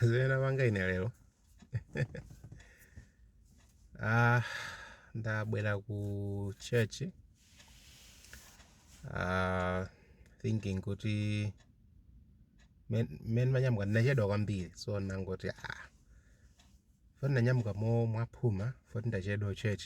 zimene napanga ine lero ah, ndabwera ku church ah, thinking kuti men- mmene ndimanyamuka ndinachedwa kwambiri so nangoti ah, foti ndanyamuka mo mwaphuma foti ndachedwa ku church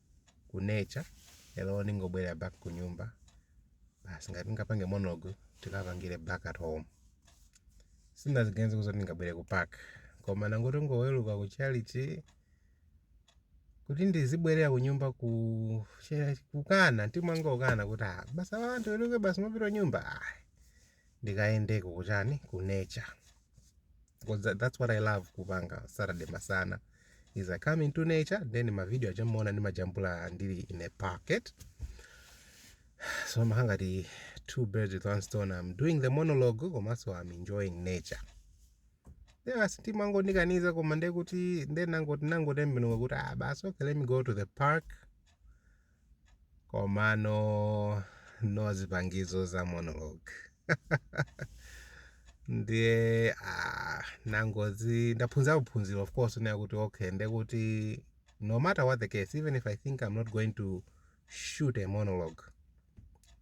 ku nature lero ndingobwerera back ku nyumba basi ngati ndingapange monologue tikapangire back at home sinaziganize kuti ndingabwere ku park koma nangoti ndangoweruka ku tchalitchi kuti ndizibwerera ku nyumba ku kukana mtima wanga ukana kuti ah basi anthu aweruke basi apita nyumba ah ndikayendeko kuchani ku nature because that, that's what i love kupanga saturday masana is i come into nature then mavideo aja mmaona ndimajambula ndili in a park eti so zimakhala ngati two birds with one stone i'm doing the monologue komanso i'm enjoying nature basi mtima wanga ondikaniza koma ndekuti ndenangoti nangotembenuka kuti ah basi okay let me go to the park komano no zipangizo za monologue ndiye ah, nangoti ndaphunzira phunziro of course kunena kuti okay ndekuti no matter what the case even if i think i'm not going to shoot a monologue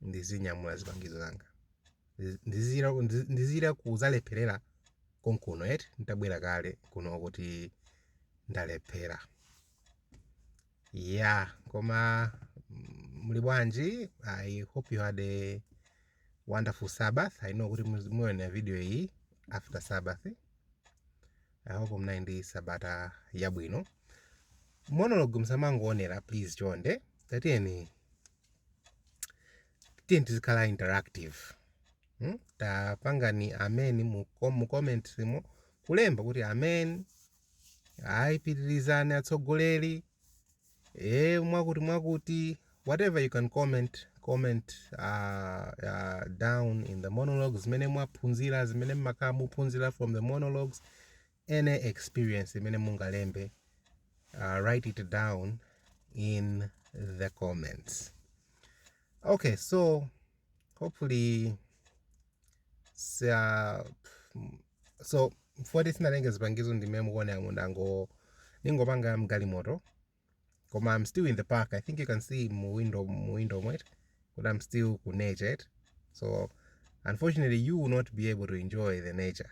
ndizinyamula zipangizo zanga Ndizi- ndizira ndizi- ndizira kuzalepherera konkuno eti nditabwera kale kuno kuti ndalephera Yeah, koma mm, muli bwanji? I hope you had a wonderful Sabbath. I know kuti muz- muona video iyi after Sabbath. I hope mnali ndi sabata yabwino. Monologue msamangoonera please chonde. Tatiyeni tiyeni tizikhala interactive. Hmm? Tapangani amen mu, kom- mu comments mo kulemba kuti amen ayi pitirizani atsogoleri e mwakuti mwakuti whatever you can comment comment uh, uh, down in the monologues zimene mwaphunzira zimene mmakhala muphunzira from the monologues any experience imene mungalembe uh, write it down in the comments okay so hopefully Sia, so mfuwa tisinalenge zipangizo ndimene mukuonera mundango ningopanga mgalimoto koma I'm still in the park I think you can see mu window mu window mwet but I'm still ku nature it so unfortunately you will not be able to enjoy the nature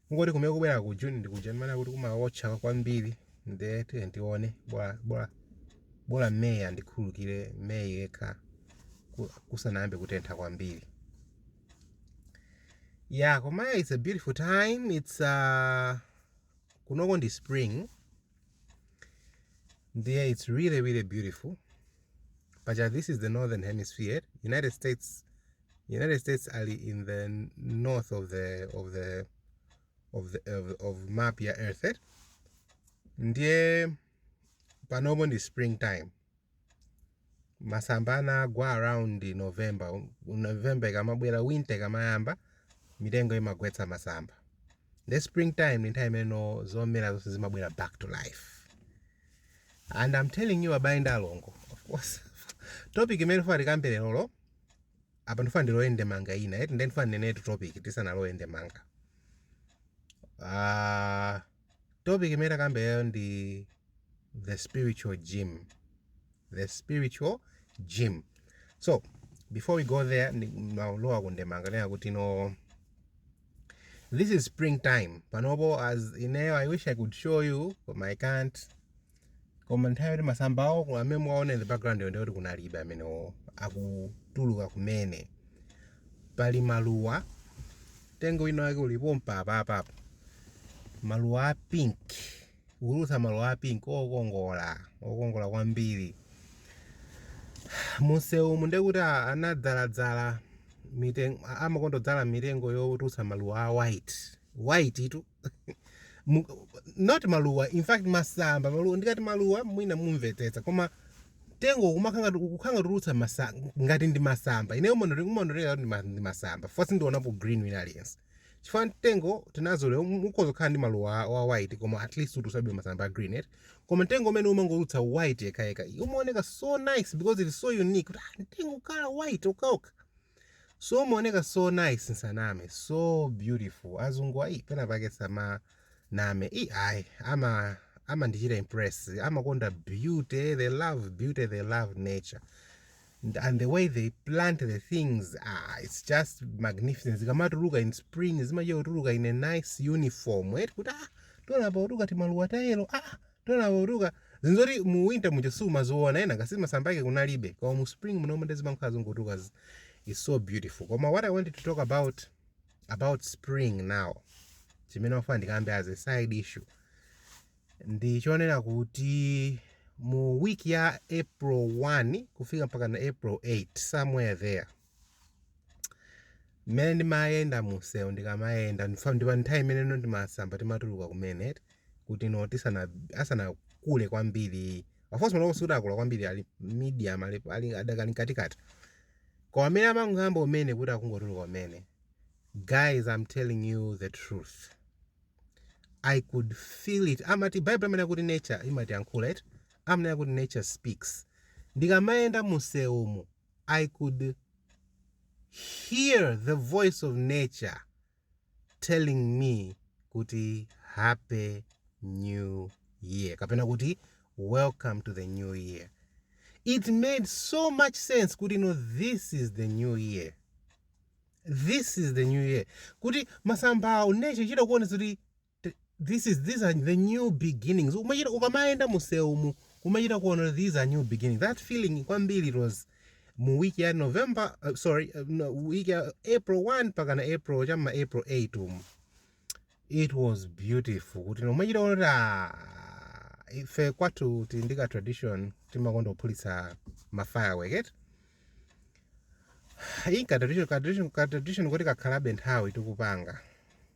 Ngoti kumene kubwera ku June ndi kuja ndimanena kuti kumawotcha kwambiri nde tiye tione bola bola bola May andikhululukire May yekha ku- kusanayambe kutentha kwambiri. Yeah, koma it's a beautiful time. It's uh, kunoko ndi spring. ndiye its really really beautiful pacha this is the northern hemisphere united states united states ali in the north of the of the of the of, of map ya earth eh? ndiye panopo ndi springtime masamba anagwa around november november ikamabwera winter ikamayamba mitengo imagwetsa masamba the spring time ni nthawi imene zomera zonse zimabwera back to life and i'm telling you abale ndi alongo of course topic imene tifuna tikambe lerolo apa ndifuna ndilowe ndemanga ina eti ndiye ndifuna ndinenetu topic tisanalowe ndemanga ah Topic imene takambe yayo ndi the spiritual gym. The spiritual gym. So, before we go there, maulowa kundemanga nena kuti no this is springtime panopo as ineyo i wish i could show you but i can't koma nthawi yoti masamba awo ku- amene mwaona in the background yo ndi yoti kunalibe amenewo akutuluka kumene pali maluwa tengo wina wake ulipo mpapa apapo maluwa a pink ukutulutsa maluwa a pink okongola okongola kwambiri mumsewumu nde kuti a- anadzaladzala mitengo amakonda kudzala mitengo yotulutsa maluwa a white white tu Mu- not maluwa in fact masamba maluwa ndikati maluwa mwina mumvetsetsa koma tengo kumakhanga kukhanga tulutsa masa ngati ndi masamba ineyo umandionekera kuti ndi ma- ndi masamba coz sindionapo green wina aliyense chifukwa mtengo tinazolowera ukhoza kukhala ndi maluwa a- wa white koma at least utulutsabe masamba a green eti koma mtengo umene umangotulutsa white yekhayekha umaoneka so nice because it is so unique kuti ah, mtengo kukhala white okhaokha So umaoneka so nice nsaname so beautiful azungu ayi penapake samanama ayi ama amandichita impress amakonda beauty they love beauty they love nature and and the way they plant the things ah, it's just magnificent zikamatuluka in spring zimachita kutuluka in a nice uniform eti kuti ah tiona apa kutuluka timaluwa ta yellow ah Tiona kutuluka, zinthu zoti mu winter muja sumaziona n'komwe ngati masamba ake kunalibe koma mu spring munomu nde zimangokhala zikungotuluka zi- is so beautiful koma what i wanted to talk about about spring now chimene ndimafuna ndikambe as a side issue ndi chonena kuti mu week ya april 1 kufika mpaka na april 8 somewhere there Mmene ndimayenda mumsewu ndikamayenda ndifa- ndipo nthawi imene ija timasamba timatuluka kumene eti kuti no tisana asanakule kwambiri of course malowo sikuti akula kwambiri ali medium ali, ali adakali mkatikati koma amene amangoyamba kumene kuti akungotuluka kumene guys i'm telling you the truth i could feel it amati bible amanena kuti nature imatiyankhula eti amanena kuti nature speaks ndikamayenda mumsewumu I could hear the voice of nature telling me kuti happy new year kapena kuti welcome to the new year it made so much sense kuti no this is the new year this is the new year kuti masambawo nature chitakuonetsa kuti Th this is these are the new beginnings umachita ukamayenda mumsewumu umachita kuona kuti these are new beginnings that feeling kwambiri it was mu week ya november uh, sorry uh, no, week ya april 1 mpakana april cha m'ma april 8 umu it was beautiful kuti umachita kuona kuti ah, ife kwathu tili ndi ka tradition timakonda kuphulitsa ma firework eti iyi ka tradition ka tradition ka tradition kuti kakhalabe nthawi tikupanga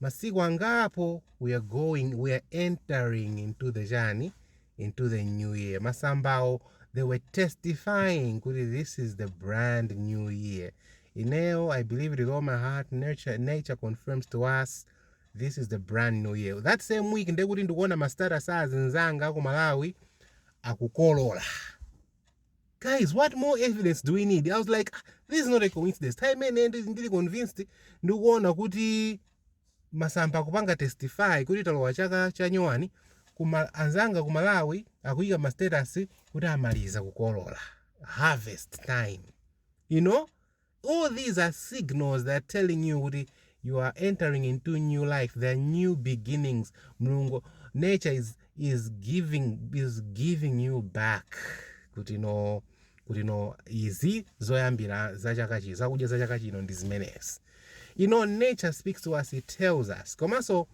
Masiku angapo we are going we are entering into the chani into the new year. Masambawo they were testifying kuti this is the brand new year. Ineo, I believe with all my heart, nature, nature confirms to us this is the brand new year. That same week ndekuti ndikuona ma status azinzanga ku Malawi akukolola. guys what more evidence do we need i was like ah, this is not a coincidence time imene ndi- ndili convinced ndikuona kuti masamba akupanga testify kuti talowa chaka cha nyuwani kuma anzanga ku malawi akuyika ma status kuti amaliza kukolola harvest time you know All these are signals that are telling you kuti you are entering into new life, there are new beginnings. Mulungu, nature is, is, giving, is giving you back kuti no kuti no izi zoyambira za chaka chino zakudya za chaka chino ndi zimenezi you know nature speaks to us it tells us komanso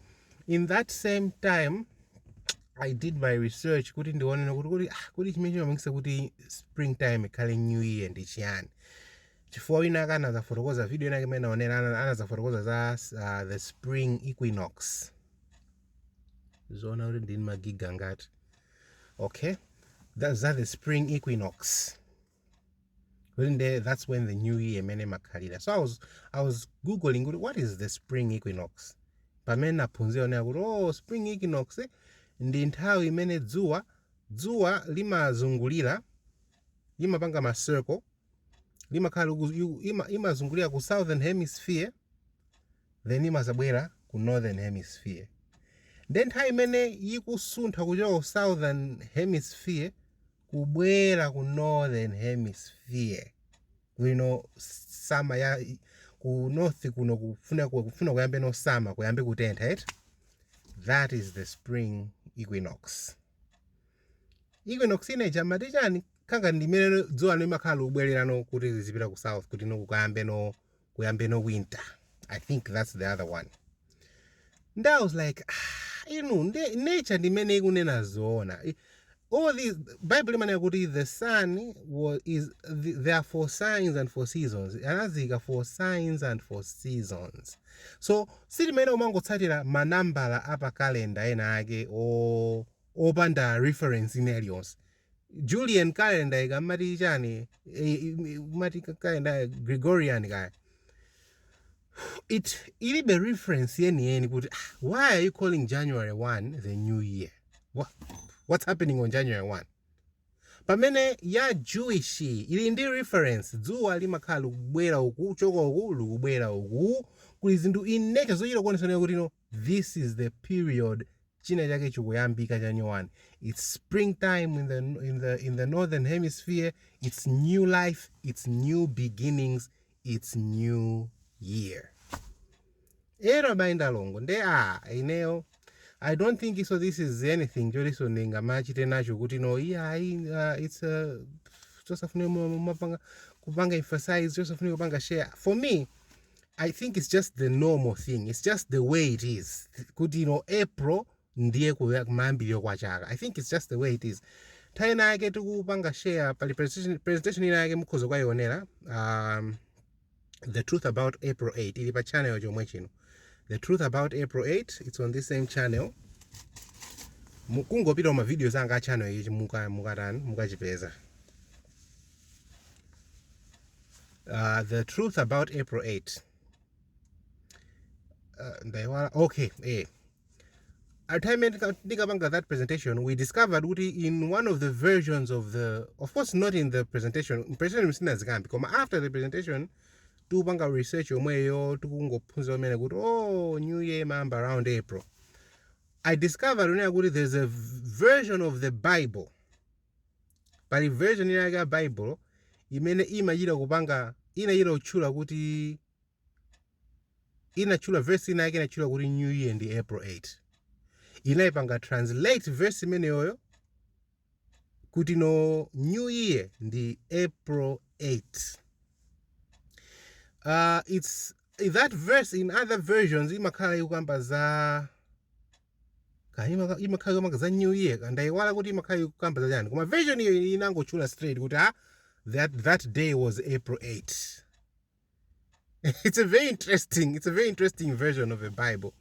in that same time i did my research kuti ndioneno kuti kuti ah, kuti chimene chimapangisa kuti springtime ikhale new year ndi chiyani chifukwa wina aka anazafotokoza video inake imene naonera ana- anazafotokoza za uh, the spring equinox zoona kuti ndini magiga ngati okay that, za the spring equinox kuti nde that's when the new year imene imakhalira so I was, i was googling kuti what is the spring equinox pamene naphunzira onera kuti oh spring equinox eh, ndi nthawi imene dzuwa dzuwa limazungulira limapanga ma circle limakhala liku- liku- ima- limazungulira ku southern hemisphere then limazabwera ku northern hemisphere nde nthawi imene likusuntha kuchoka ku southern hemisphere kubwera ku northern hemisphere kuno summer ya ku north kuno kufuna kufuna kuyambeno summer kuyambe kutentha right that is the spring equinox equinox inayi amati chani kaya ndimene dzuwa limakhala likubwererano kuti lizipita ku south kuti no kukayambeno kuyambeno winter i think that's the other one nde i was like ah, inu nde nature ndimene ikunena zoona I- all these bible imanena kuti the sun was, is the, there are for signs and for seasons anaziika for signs and for seasons so silimene umangotsatira manambala a pa calendar inayake o- opanda reference ina iliyonse Julian calendar kaya amati chani eh, amati calendar Gregorian kaya ilibe reference yeni yeni kuti ah, why are you calling January 1 the new year What, what's happening on January 1 pamene ya Jewish ili ndi reference dzuwa limakhala likubwera uku kuchoka uku likubwera uku kuli zinthu in nature zochita kuonetsana kuti no This is the period china chake chikuyambika cha nyowani its spring time in the, in, the, in the northern hemisphere its new life its new beginnings its new year ero abayi ndalongo nde a ineyo i don't think so this is anything choti ndingamachite nacho kuti no iyayi uh, its uh, chosafunika kumapanga kupanga emphasize chosafunika kupanga share for me I think it's just the normal thing. It's just the way it is. Kuti you know April ndiye kuya- kumayambiriro kwa chaka. I think it's just the way it is. Nthawi ina yake tinkapanga share pali presentation, presentation ina yake mukhoza kukayionera um, the truth about April 8 ili pa channel chomwe chino. The truth about April 8 it's on this same channel. Mu- Kungopita ma videos anga a channel ichi muka mukatani mukachipeza. uh, the truth about april 8 uh, ndaiwala okay eh. at time ndinkapanga that presentation we discovered kuti in one of the versions of the of course not in the presentation presentation simuzikambi koma after the presentation tikupanga research yomweyo tikungophunzira kumene kuti oh new year imayamba around april i discovered kunena kuti there's a version of the bible Pali version ina yake ya Bible imene imachita kupanga inachita kutchula kuti inatchula verse ina yake inatchula kuti New Year ndi April 8. Inaipanga translate verse imeneyoyo kuti no New Year ndi April 8. Uh, it's that verse in other versions imakhala ikukamba za Ka imaka- imakhala ikukamba za new year ka ndayiwala kuti imakhala ikukamba za chani koma version iyo ili inangotchula straight kuti ah, that, that day was april 8 it's a very interesting it's a very interesting version of the bible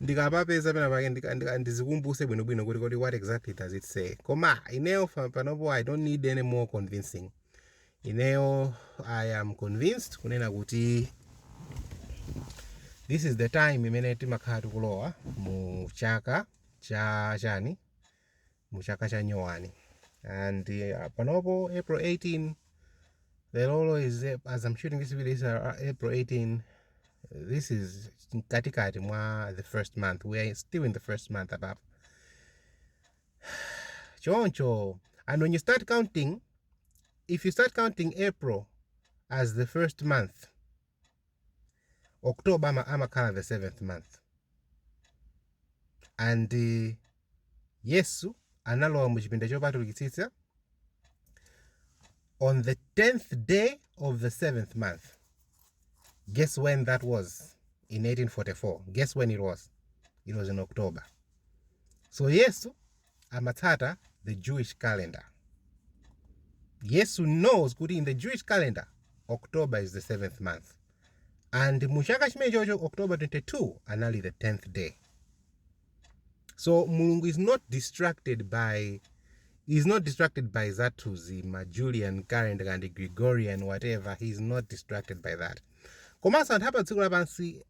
ndikapapeza pena pake ndika- ndika- ndizikumbuse bwinobwino kuti kodi what exactly does it say koma ineyo fa- panopo i don't need any more convincing ineyo i am convinced kunena kuti this is the time imene timakhala tikulowa mu chaka cha chani mu chaka cha nyowani and uh, panopo april 18 lerolo is as i'm shooting this video is uh, april 18 this is mkatikati mwa the first month we are still in the first month apapo choncho and when you start counting if you start counting april as the first month october ama- amakhala the seventh month and uh, yesu analowa mu chipinda chopatulikitsitsa on the 10th day of the seventh month guess when that was in 1844 guess when it was it was in october so yesu amatsata the jewish calendar yesu knows kuti in the jewish calendar october is the seventh month and mu chaka chimenechocho october 22 anali the 10th day so mulungu is not distracted by is not distracted by zathuzi ma julian calendar and gregorian whatever he is not distracted by that komanso anthu a padziko lapansi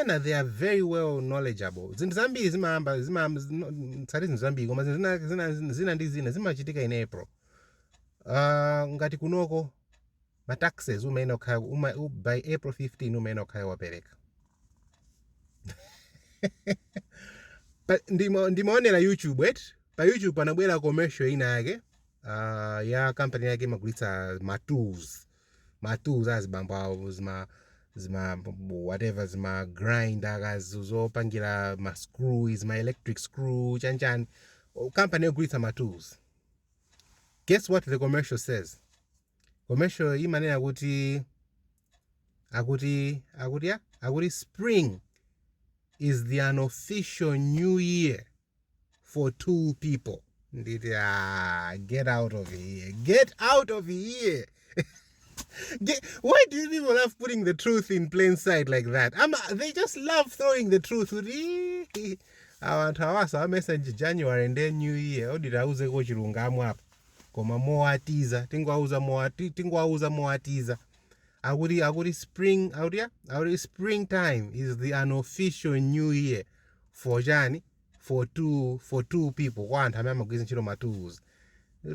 ena they are very well knowledgeable zinthu zambiri zimayamba sindima- tsati zinthu zambiri koma zinthu zina, zina, zina ndi zina zimachitika in april uh, ngati kunoko ma taxes umayenera kukhala uma, u, by april 15 umayenera kukhala wapereka Pa- ndima- ndimaonera youtube eti pa youtube panabwera commercial ina yake ah, ya kampani ina yake imagulitsa ma tools ma tools azibambo awo zima zima whatever zima grinder kaya zi zopangira ma screw zima electric screw chanchani kampani yogulitsa ma tools guess what the commercial says Commercial imanena kuti akuti akuti ya akuti spring is the unofficial new year for two people. Nditi ah, get out of here. Get out of here. Get, why do people love putting the truth in plain sight like that? I'm, they just love throwing the truth. Awanthu awasa amesa January and then new year. Odita auze ko chilungamo apa. koma mowatiza tingowauza mowati tingowauza mowatiza akuti akuti spring akuti ya akuti spring time is the unofficial new year for chani for tool for tool people kwa anthu amene amagwiritsa ntchito ma tools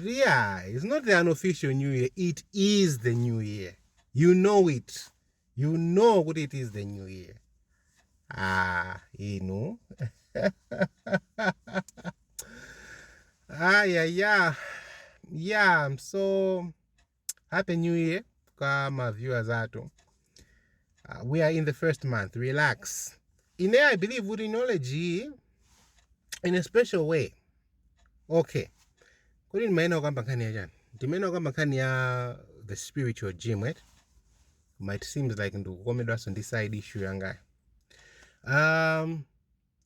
yeah it's not the unofficial new year it is the new year you know it you know kuti it is the new year ah inu aya ya ya so happy new year kwa ma viewers athu uh, we are in the first month relax ine i believe kuti knowledge iyi in a special way okay kodi ndimayenera kukamba nkhani ya chani ndimayenera kukamba nkhani ya the spiritual gym right koma it seems like ndikukomedwanso ndi side issue yangayo um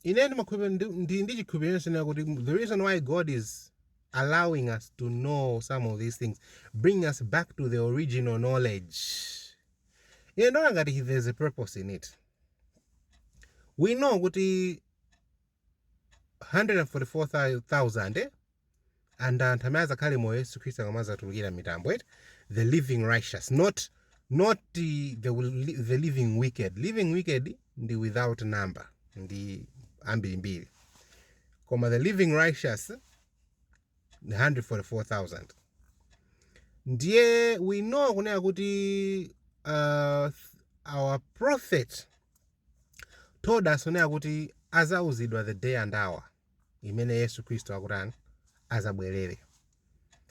ine ndimakhulupirira ndi- ndi ndi chikhulupiriro chonse nacho kuti the reason why god is allowing us to know some of these things bring us back to the original knowledge ine ndiona ngati there's a purpose in it we know kuti 144,000 eh? and anthu amene azakhale moyo yesu khristu akamazatulukira m'mitambo eti the living righteous not not the, the, the living wicked living wicked ndi without number ndi ambirimbiri koma the living righteous 144000 ndiye we know kunena kuti uh, our prophet told us kunena kuti azauzidwa the day and hour imene Yesu Kristu akutani azabwerere.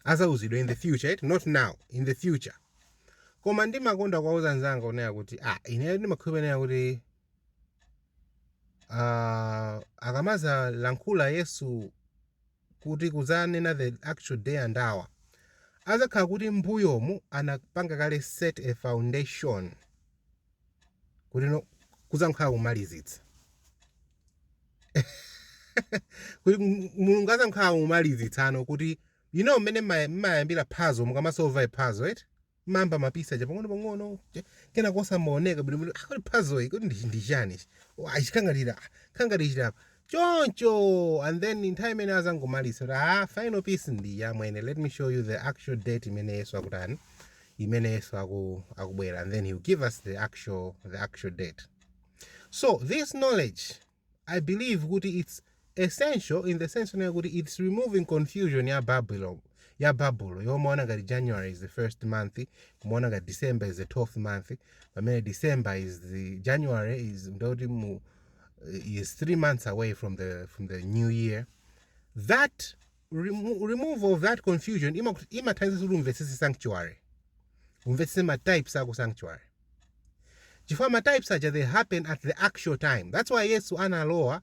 Azauzidwa in the future, eti not now, in the future. Koma ndimakonda kuwauza anzanga kunena kuti ah, ine ndimakhulupirira kuti uh, akamazalankhula Yesu kuti kuzanena the actual day and hour azakhala kuti mbuyomu anapanga kale set a foundation kutino kudzangokhala kumalizitsa kuti m- mulungu adzangokhala kumalizitsano kuti you know mmene mma- mmayambira puzzle mukamasolva puzzle eti mmayamba ma piece aja pang'ono pang'ono cha- kenako zimaoneka bwinobwino ah, kuti puzzle iyi kuti ndi- ndi chani ichi? Oh, ah, ichi chikhala ngati ah, kangati chilapa choncho and then nthawi imene azangomaliza kuti ah final piece ndi iyi amwene let me show you the actual date imene yesu akutani imene yesu aku, akubwera and then he will give us the actual, the actual date so this knowledge i believe kuti it's essential in the sense onena kuti it's removing confusion ya babylon ya babulo yomaona ngati january is the first month kumaona ngati december is the 12th month pamene december is the january is ndoti mu is three months away from the, from the new year that remo removal of that confusion imathandiza kuti umvetsese sanctuary umvetsese matypes ako sanctuary chifukwa matypes aja they happen at the actual time that's why yesu analowa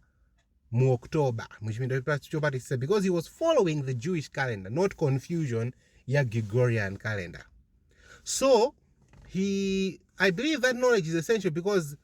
mu october muchipinda chopatisisa because he was following the jewish calendar not confusion ya gregorian calendar so he i believe that knowledge is essential because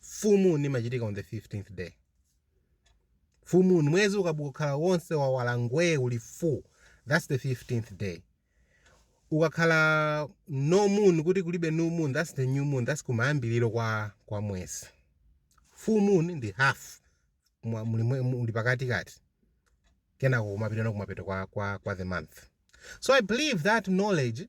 full moon imachitika on the 15th day full moon mwezi ukakhala wonse wawala ngwee uli full that's the 15th day ukakhala no moon kuti kulibe new moon that's the new moon that's kumayambiriro kwa kwa mwezi full moon ndi half mwa- muli mwe- muli pakati kati kenako kumapitana kumapeto kwa, kwa, kwa the month so i believe that knowledge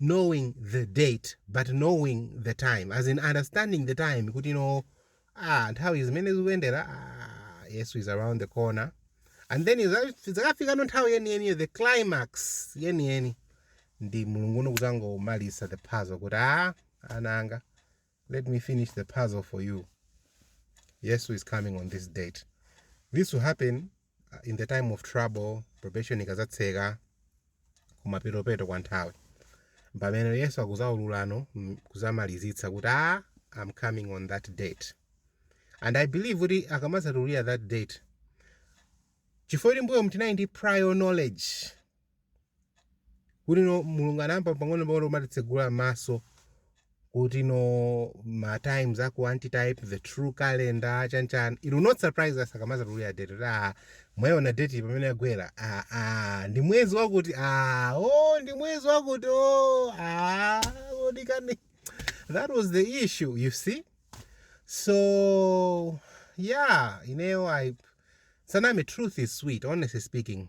knowing the date but knowing the time as in understanding the time kuti no ah, nthawi izi mmene zikuyendera ah, yesu is around the corner and then idzakafikano nthawi yeniyeniyo the climax yeniyeni ndi mulungu uno kudzangomaliza the puzzle kuti ah, ana anga let me finish the puzzle for you yesu is coming on this date this will happen in the time of trouble probation ikazatseka kumapetopeto kwa nthawi pamene yesu akuzaululano mm, kuzamalizitsa kuti ah I am coming on that date and i believe kuti akamazatulira that date chifukwa kuti mbuyomu tinali ndi prior knowledge kuti no mulungu anayamba pang'ono pang'ono kumatitsegula maso kuti no ma times aku antitype the true calendar chanchan it will not surprise us akamazatulira date kuti ah mwayiona date pamene yagwera ah ah ndi mwezi wakuti ah oh ndi mwezi wakuti oh ah kodi kani that was the issue you see so yeah ineyo sindinama truth is sweet honestly speaking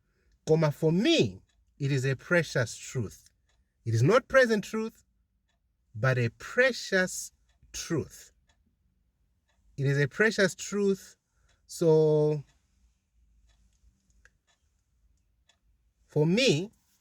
koma for me it is a precious truth, it is not present truth but a precious truth, it is a precious truth so for me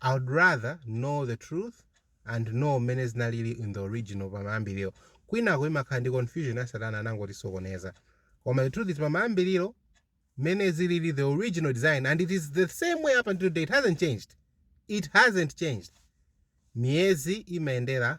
I would rather know the truth and know mmene zinalili in the original pamayambiliro kwinako imakhala ndi confusion ya satana anangotisokoneza koma the truth is pamayambiliro mmene zilili the original design and it is the same way up until today it hasn't changed it hasn't changed miyezi imayendera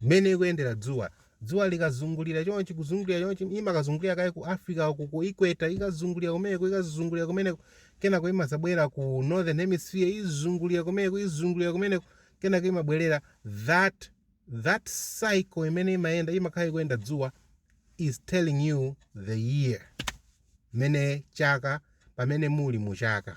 Mmene ikuyendera dzuwa. Dzuwa likazungulira chonchi, kuzungulira chonchi, imakazungulira kaye ku Africa uku, ku equator, ikazungulira kumeneko, ikazungulira kumeneko, kenako imadzabwera ku Northern Hemisphere, izungulira kumeneko, izungulira kumeneko, kenako imabwerera. That, that cycle imene imayenda, imakhala ikuyenda dzuwa is telling you the year. Mmene chaka, pamene muli mu chaka.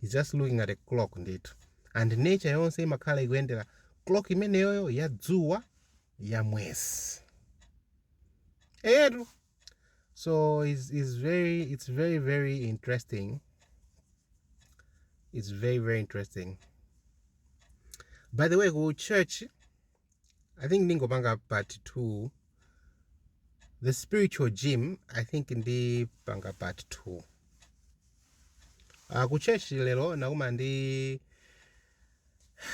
He's just looking at a clock ndithu and nature yonse imakhala ikuyendera clock imeneyoyo ya dzuwa ya mwezi eyetu so it's, it's very it's very very interesting it's very very interesting by the way ku church i think ndingopanga part 2 the spiritual gym i think ndipanga part 2 uh, ku church lero nakuma ndi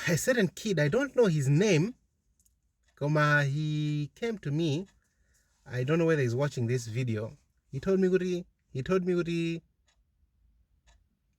a certain kid i don't know his name koma he came to me i don't know whether he's watching this video he told me kuti he told me kuti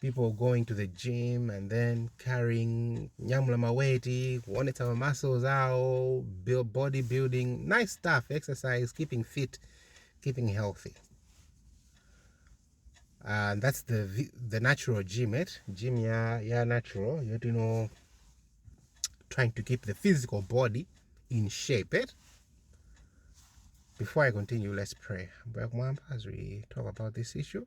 people going to the gym and then carrying nyamula maweti kuonetsa ma muscles awo build body building nice stuff exercise keeping fit keeping healthy and that's the vi- the natural gym it gym ya ya natural you you know trying to keep the physical body in shape it before i continue let's pray Ambuye kumwamba, as we talk about this issue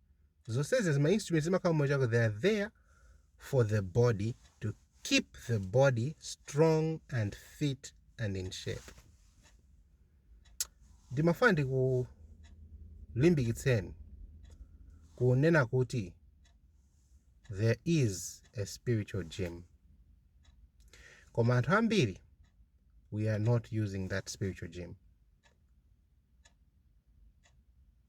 zonsezo ma instruments zimakhala mmomo choncho they are there for the body to keep the body strong and fit and in shape ndimafuna ndikulimbikitseni kunena kuti there is a spiritual gym koma anthu ambiri we are not using that spiritual gym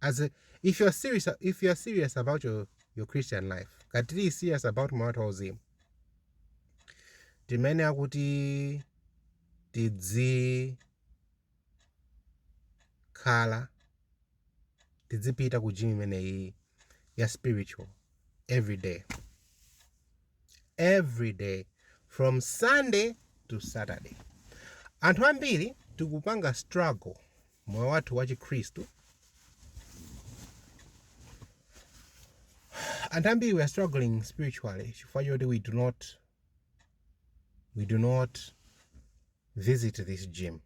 as a, if you are serious if you are serious about your your christian life ngati tili serious about moyo wathu wauzimu tiyenera kuti tidzikhala tidzipita ku gym imeneyi ya spiritual every day every day from sunday to saturday anthu ambiri tikupanga struggle moyo wathu wa chikhristu anthu ambiri we are struggling spiritually chifukwa choti we do not we do not visit this gym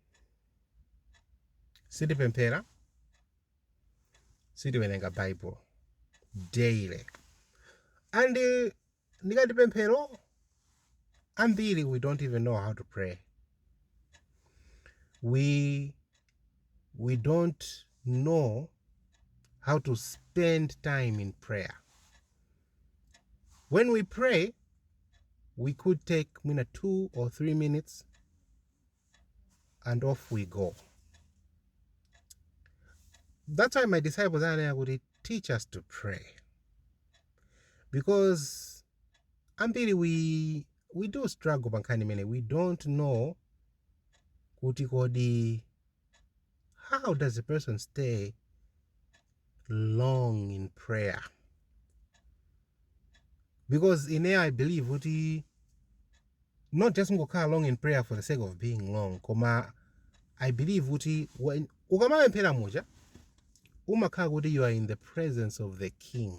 sitipemphera sitiwerenga bible daily and eh, ndikati pemphero ambiri we don't even know how to pray we we don't know how to spend time in prayer when we pray we could take mwina two or three minutes and off we go that's why my disciples ananena kuti teach us to pray because ambiri we, we do struggle pankhani imene we don't know kuti kodi How does a person stay long in prayer? Because in here I believe what he not just ngokhala long in prayer for the sake of being long, koma I believe what he when ukamapemphera muja umakhala kuti you are in the presence of the king.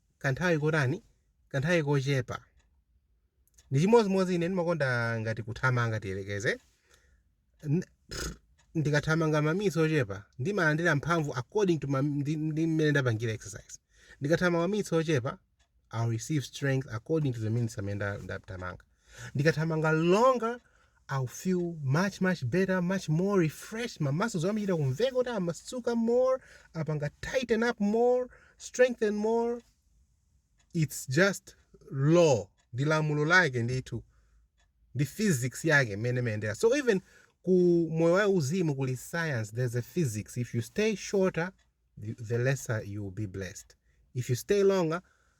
kanthawi kotani? Kanthawi kochepa. Ndi chimodzimodzi ine ndimakonda ngati kuthamanga tiyerekeze. N- pff, Ndikathamanga maminitsi ochepa ndimalandira mphamvu according to ma- ndi ndi mmene ndapangira exercise. Ndikathamanga maminitsi ochepa I'll receive strength according to the minutes amene nda- ndathamanga. Ndikathamanga longer I'll feel much much better, much more refreshed, ma muscles anga amachita kumveka kuti amasuka more, apanga tighten up more, strengthen more, it's just law, ndi lamulo lake ndithu, ndi physics yake mmene imayendera. So even ku moyo wa uzimu kuli science, there's a physics, if you stay shorter the lesser you will be blessed, if you stay longer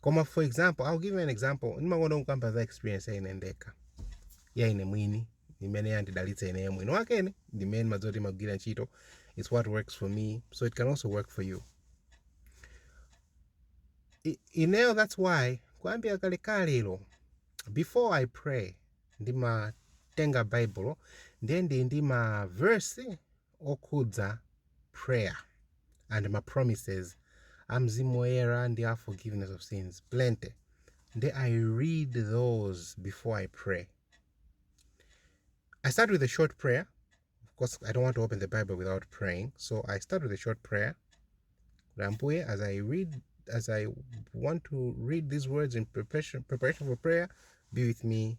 koma for example i'll give you an example ndimakonda kukamba za experience ya ine ndekha ya ine mwini imene yandidalitsa ineyo mwini wakene ndi imene ndimadziwa kuti imagwira ntchito it's what works for me so it can also work for you I- ineyo that's why kuyambira kalekalelo before i pray ndimatenga Bible ndiye ndi ndi ma verse okhudza prayer and ma promises a mzimu woyera ndi a forgiveness of sins plenty nde i read those before i pray i start with a short prayer of course i don't want to open the bible without praying so i start with a short prayer Rambuye, as i read as i want to read these words in preparation, preparation for prayer be with me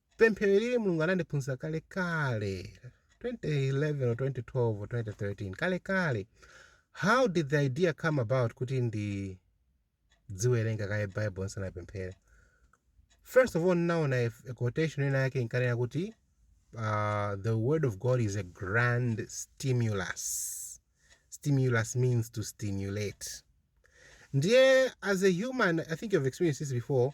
Pemphero ili Mulungu anandiphunzitsa kale kale 2011 or 2012 or 2013 kale kale. How did the idea come about kuti ndidziwerenga kaye Bible nsanapemphere? First of all ninaona a, a quotation ina yake inkanena kuti uh, the word of God is a grand stimulus. Stimulus means to stimulate. Ndiye as a human, I think you've experienced this before,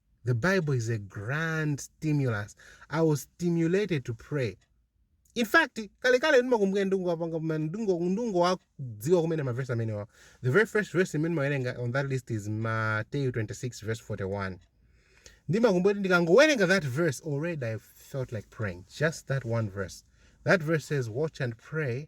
The Bible is a grand stimulus. I was stimulated to pray. In fact, kale kale ndimakumbuka ndikungowapanga koma ndingo ndikungowadziwa kumene mavesi amenewa. The very first verse imene ndimawerenga on that list is Matthew 26 verse 41. Ndimakumbuka kuti ndikangowerenga that verse already I felt like praying. Just that one verse. That verse says watch and pray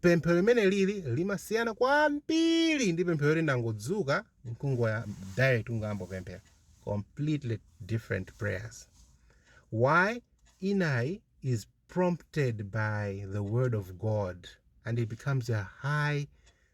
Pemphero limene lili limasiyana kwambiri ndi pemphero loti ndangodzuka nkungoyamba direct kungoyamba kupemphera. Completely different prayers. Why? Inayi is prompted by the word of God and it becomes a high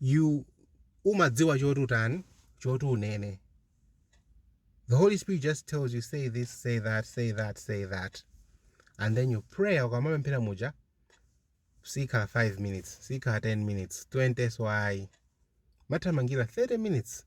you umadziwa choti utani choti unene the holy spirit just tells you say this say that say that say that and then you prayer ukamapemphera muja sikhala 5 minutes sikhala 10 minutes 20 mwayamba kuthamangira 30 minutes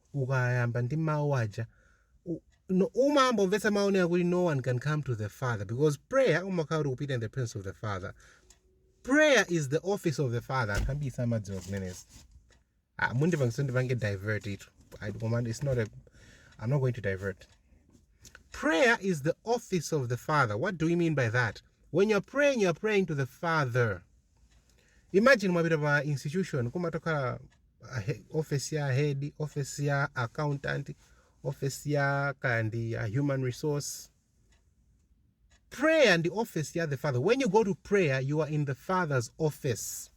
ukayamba ndi mawu aja u- no- umangomvetsa mawu onena kuti no one can come to the father because prayer umakhala ukupita in the presence of the father prayer is the office of the father anthu ambiri samadziwa zimenezi ah, mundipangisa ndipange divert tu I- koma it's not a, i'm not going to divert prayer is the office of the father what do we mean by that when you're praying you're praying to the father imagine mwapita pa institution kumatokhala office ya head office ya accountant office ya kandi ya human resource prayer ndi office ya the father when you go to prayer you are in the father's office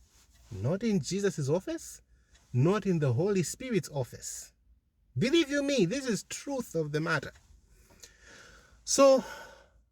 not in jesus' office not in the holy spirit's office believe you me this is truth of the matter so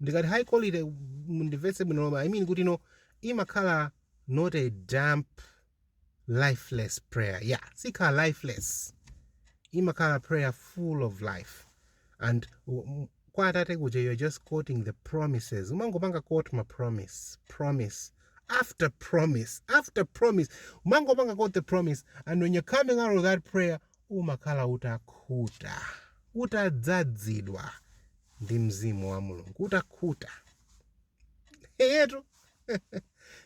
ndikati high quality mundimvetse bwino lomwe i mean kuti no imakhala not a damp lifeless prayer yeah sikhala lifeless imakhala prayer full of life and um, kwa atate kuja you're just quoting the promises umangopanga quote ma promise promise after promise after promise umangopanga quote the promise and when you're coming out of that prayer umakhala utakhuta utadzadzidwa ndi mzimu wa mulungu utakhuta eyetu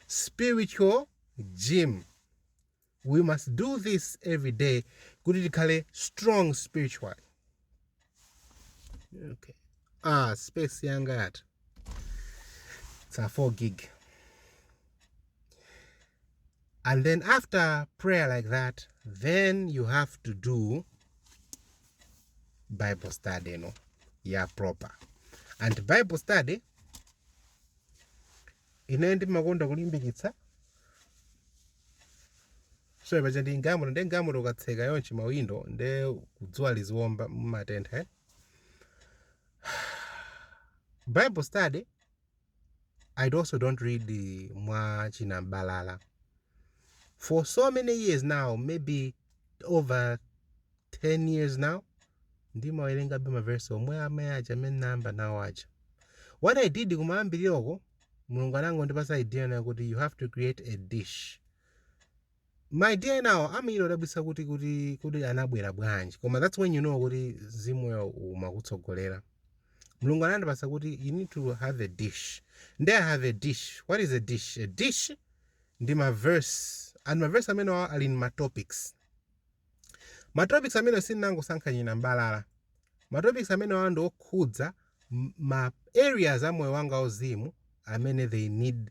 spiritual gym we must do this every day kuti tikhale strong spiritually okay. ah space yanga yatha it's a 4 gig and then after prayer like that then you have to do bible study no ya proper and bible study ine ndimakonda kulimbikitsa so paja ndi galimoto nde galimoto ukatseka chonchi mawindo nde dzuwa liziwomba mumatentha eh? bible study I also don't read uh, mwa chinam'balala for so many years now maybe over 10 years now ndimawerengabe maverse omwe amene aja amene ndinayamba nawo aja what i did kumayambirira uko mulungu anangondipasa idea inayake kuti you have to create a dish ma idea enawo amachita odabwitsa kuti kuti kuti anabwera bwanji koma that's when you know kuti mzimu woyera umakutsogolera mulungu anandipatsa kuti you need to have a dish nde i have a dish what is a dish a dish ndi maverse and maverse amenewa ali ndi matopics matopics amene sindinangosankha chinam'balala matopics amenewa ndi okhudza m- ma areas a moyo wanga wauzimu amene they need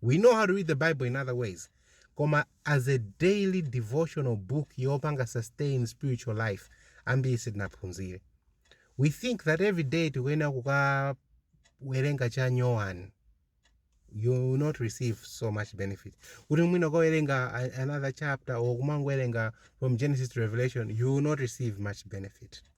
We know how to read the Bible in other ways, koma as a daily devotional book yopanga sustain spiritual life ambiri sitinaphunzire. We think that every day tikuyenera kukawerenga cha nyowani you will not receive so much benefit kuti mwina ukawerenga another chapter or kumangowerenga from genesis to revelation you will not receive much benefit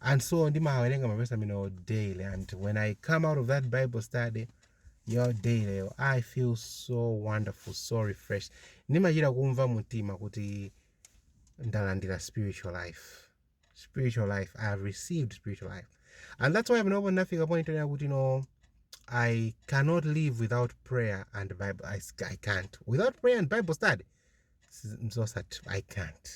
and so ndimawerenga mavesi amenewo daily and when i come out of that bible study yo daily i feel so wonderful so refreshed ndimachita kumva mtima kuti ndalandira spiritual life spiritual life i have received spiritual life and that's why panopo ndinafika point yonena kuti no i cannot live without prayer and bible i, I can't without prayer and bible study mzosat i can't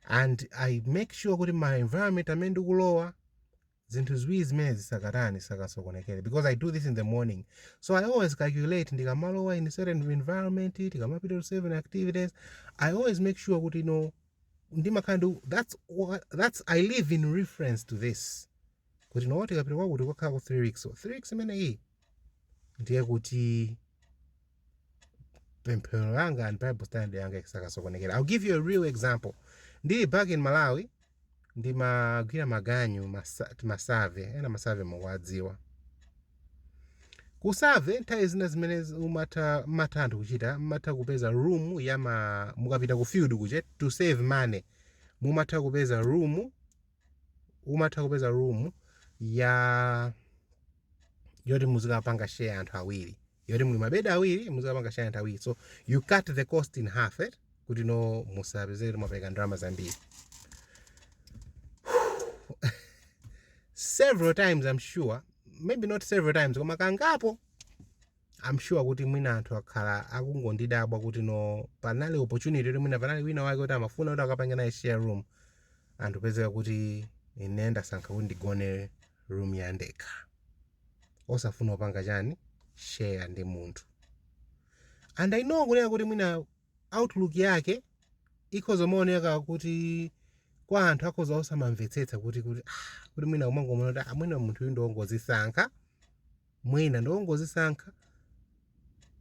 and i make sure kuti ma environment amene ndikulowa zinthu ziwiri zimenezi zisakatani zisakasokonekere because i do this in the morning so i always calculate ndikamalowa in certain environment tikamapita to certain activities i always make sure kuti you know ndimakhala ndi that's what, that's i live in reference to this kuti no tikapita kwakuti kukakhala ku 3 weeks so 3 weeks imeneyi ndiye kuti pemphero langa and bible study yanga isakasokonekere i'll give you a real example ndili back in malawi ndimagwira maganyu masa- ti masave ena masave mukuwadziwa kusave nthawi zina zimene zi- umatha mmatha anthu kuchita mmatha kupeza room ya ma mukapita ku field kuja to save money mumatha kupeza room umatha kupeza room ya yoti muzikapanga share anthu awiri yoti muli mabedi awiri muzikapanga share anthu awiri so you cut the cost in half eh? kuti no musapezeke kuti mwapereka ndalama zambiri several times i'm sure maybe not several times koma kangapo i'm sure kuti mwina anthu akhala akungondidabwa kuti no panali opportunity kuti mwina panali wina wake kuti amafuna kuti akapange naye share room and kupezeka kuti ine ndasankha kuti ndigone room yandekha osafuna kupanga chani share ndi munthu and i know kunena kuti mwina outlook yake ikhoza kumaoneka kuti kwa anthu akhoza osamamvetsetsa kuti kuti ah, kuti mwina kumangomuona kuti ah, mwina munthu uyu ndiwongozisankha mwina ndiwongozisankha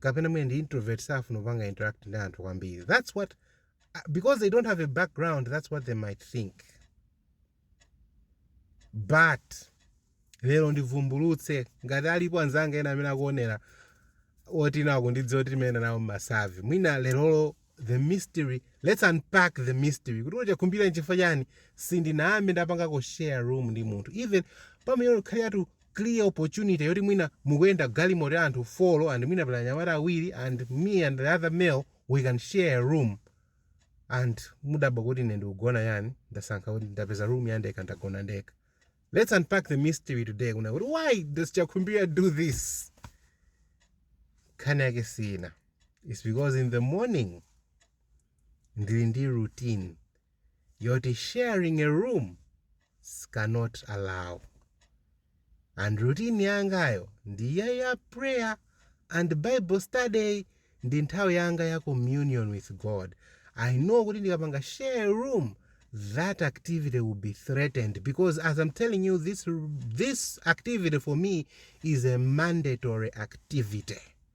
kapena mwina ndi introvert safuna kupanga interact ndi anthu kwambiri that's what uh, because they don't have a background that's what they might think but lero ndivumbulutse ngati alipo anzanga ena amene akuonera oti mwina akundidziwa kuti timayenda nawo mmasavi mwina lerolo the mystery let's unpack the mystery kuti kodi Chakhumbira nchifukwa chani sindinayambe ndapangako share room ndi munthu even pamene paliratu clear opportunity yoti mwina mukuyenda galimoto ya anthu 4 and mwina pali anyamata awiri and me and the other male we can share a room and mudabwa kuti ine ndikugona chani ndasankha kuti ndapeza room ya ndekha ndagona ndekha let's unpack the mystery today kunena kuti why does chakhumbira do this nkhani yake sina it's because in the morning ndili ndi routine yoti sharing a room cannot allow and routine yangayo ndi ya ya prayer and bible study ndi nthawi yanga ya communion with God I know kuti ndikapanga share a room that activity will be threatened because as I'm telling you this this activity for me is a mandatory activity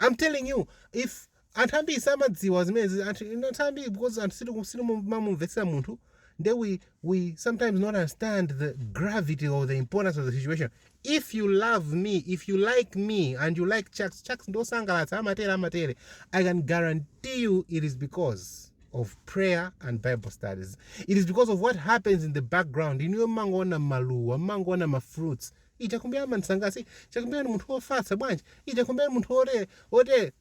I'm telling you if anthu ambiri samadziwa zimenezi anthu you know, anthu ambiri because anthu sitiku- sitimamumvetsera munthu nde we, we sometimes not understand the gravity or the importance of the situation if you love me if you like me and you like chucks chucks ngosangalatsa amatere amatere i can guarantee you it is because of prayer and bible studies it is because of what happens in the background inuyo mmangoona maluwa mmangoona mafruits ija kumbe ama msangasi ija kumbe ni munthu wofatsa bwanji ija kumbe ni munthu wote wote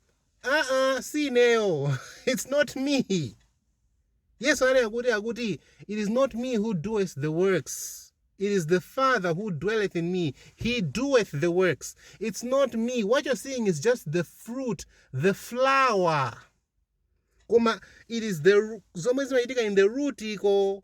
aa si ineyo it's not me yesu ali akuti akuti it is not me who doeth the works it is the father who dwelleth in me he doeth the works it's not me what you're seeing is just the fruit the flower koma it is the ru- zomwe zimachitika in the root iko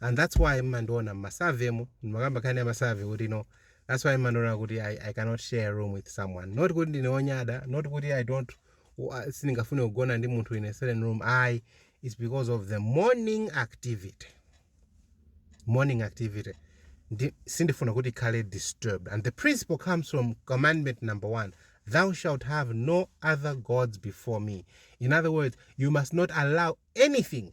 and that's why mmandiona mmasave mu ndimakamba nkhani ya masave kuti no that's why mmandiona kuti I, i cannot share a room with someone not kuti ndine onyada not kuti i don't u- ah, sindingafune kugona ndi munthu in a certain room i it's because of the morning activity morning activity ndi sindifuna kuti ikhale disturbed and the principle comes from commandment number one thou shalt have no other gods before me in other words you must not allow anything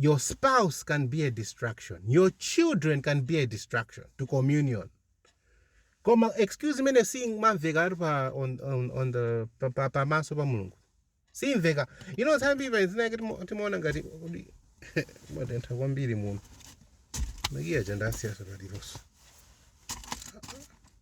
your spouse can be a distraction your children can be a distraction to communion koma excuse imene siyimamveka ati pa on, on, on the pa- pa- pamaso pa mulungu siyimveka you know nthawi zina zinazake timo- timaona ngati kodi matentha kwambiri muno makiya chandasiyasa paliponso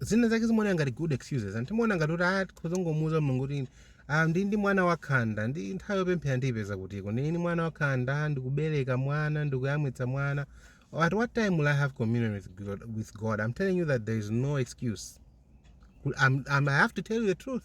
zina zake zimaoneka ngati good excuses anthu timaona ngati kuti ah tikhoza kungomuuza mulungu kuti ah ndi ndi mwana wakhanda ndi nthawi yopemphera ndiyipeza kutiko ndili ndi mwana wakhanda ndikubereka mwana ndikuyamwitsa mwana at what time will i have communion with god, with god i'm telling you that there is no excuse I'm, I'm, i have to tell you the truth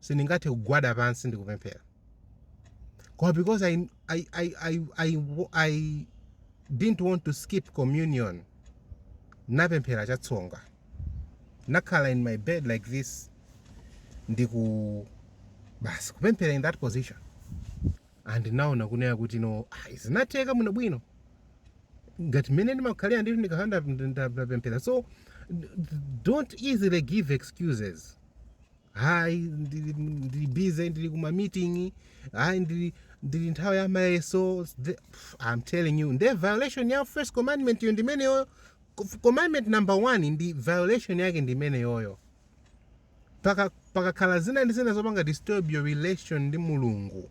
sindingathe kugwada pansi ndi kupemphera koma because I, I, I, I, I, I didn't want to skip communion napemphera chatsonga nakhala in my bed like this ndiku basi kupemphera in that position and naona kunena kuti no ah, zinatheka bwino bwino ngati mmene ndimakhalira ndithu ndikakhala ndapemphera so don't easily give excuses hayi ndili ndili busy ndili kuma meeting hayi ndili ndili nthawi ya mayeso the- pff, i'm telling you nde violation ya first commandment yo ndi imeneyoyo Cof- commandment number one ndi violation yake ndi imeneyoyo Paka- pakakhala zina ndi zina zopanga disturb your relation ndi mulungu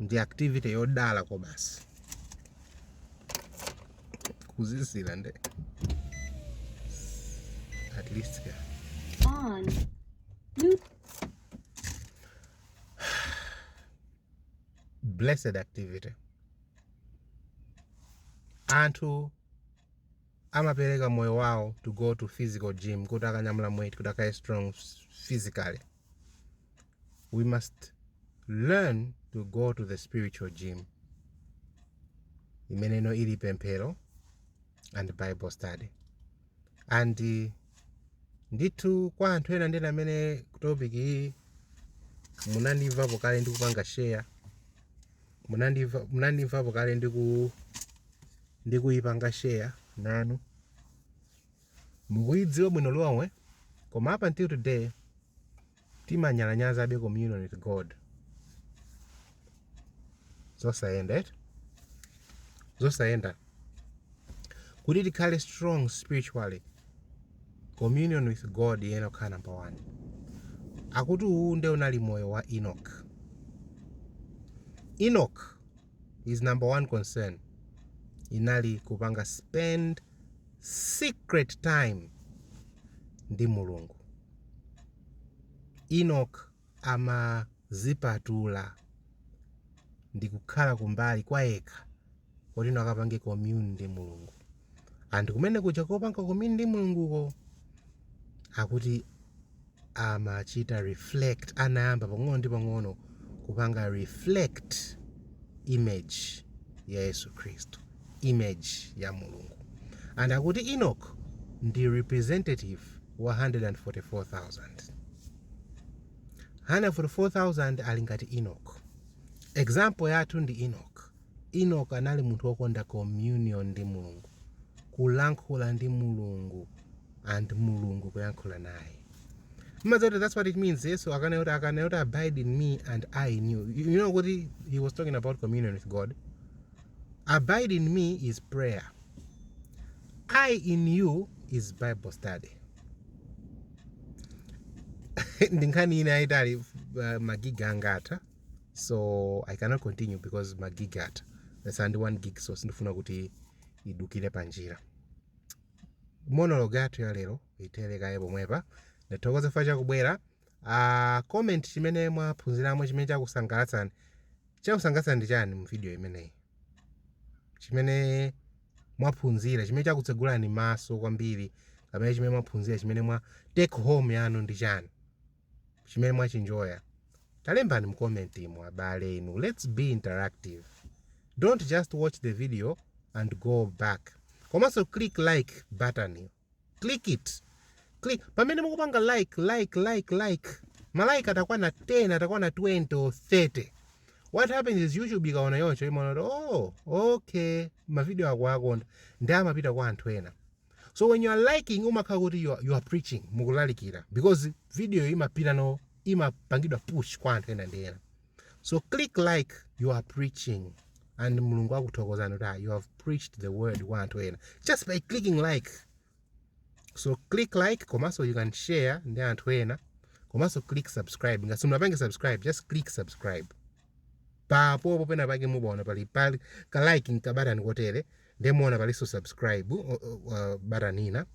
ndi activity yodala kobasi kudziwa nde at least ka on Blu- blessed activity anthu amapereka moyo wawo to go to physical gym kuti akanyamule maweight kuti akakhale strong physically we must learn to go to the spiritual gym imeneno ili pemphero and bible study and uh, ndithu kwa anthu ena ndena amene topic iyi munandimvapo kale ndikupanga share munandimva- munandimvapo kale ndiku ndikuyipanga share nanu mukuidziwa bwino lomwe koma up until today timanyalanyazabe communion with god zosayenda eti zosayenda kuti tikhale strong spiritually communion with god iyenera kukhala number one akuti uwu nde unali moyo wa enoch enoch his number one concern inali kupanga spend secret time ndi mulungu enoch amazipatula ndikukhala kumbali kwayekha kuti akapange commune ndi mulungu and kumene kuja kopanga commune ndi mulunguko akuti amachita reflect anayamba pang'ono ndi pang'ono kupanga reflect image ya yesu khristu image ya mulungu and akuti enoch ndi representative wa 144000 144000 ali ngati enoch example yathu ndi enoch Enoch anali munthu wokonda communion ndi Mulungu, kulankhula ndi Mulungu and Mulungu kuyankhula naye. Mumadziwa kuti that's what it means. Yesu akanena kuti akanena kuti abide in me and I in you. You know kuti he was talking about communion with God. Abide in me is prayer. I in you is Bible study. Ndi nkhani ina yaitali uh, magiga angatha. so i cannot continue because ma gig atha atsala ndi one gig so sindifuna kuti idukire panjira monologue yathu ya lero ithere kaye pomwepa ndathokoza chifukwa chakubwera uh, comment chimene mwaphunziramo chimene chakusangalatsani chakusangalatsani ndi chani mu video imeneyi chimene mwaphunzira chimene chakutsegulani maso kwambiri kapena chimene mwaphunzira chimene mwa take home yanu ndi chani chimene mwachinjoya talembani mu comment mo abale inu let's be interactive don't just watch the video and go back komanso click like button yo click it click pamene mukupanga like like like like ma like atakwana 10 atakwana 20 or 30 what happens is youtube ikaona choncho imaona kuti oh okay mavideo akuwakonda ndi amapita kwa anthu ena so when you are liking umakhala kuti you are, you are preaching mukulalikira because video imapita no imapangidwa push kwa anthu ena ndi ena so click like you are preaching and mulungu akuthokozani kuti ah, you have preached the word kwa anthu ena just by clicking like so click like komanso you can share ndi anthu ena komanso click subscribe ngati simunapange subscribe just click subscribe Pomwepo pena pake mupaona pali pali ka like ndi ka button kotere nde muona palinso subscribe uh, uh, button ina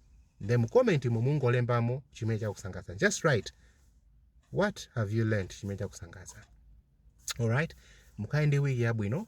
nde mu comment mo mungolembamo chimene chakusangalatsa just write what have you learned chimene chakusangalatsa alright mukhale ndi wiki yabwino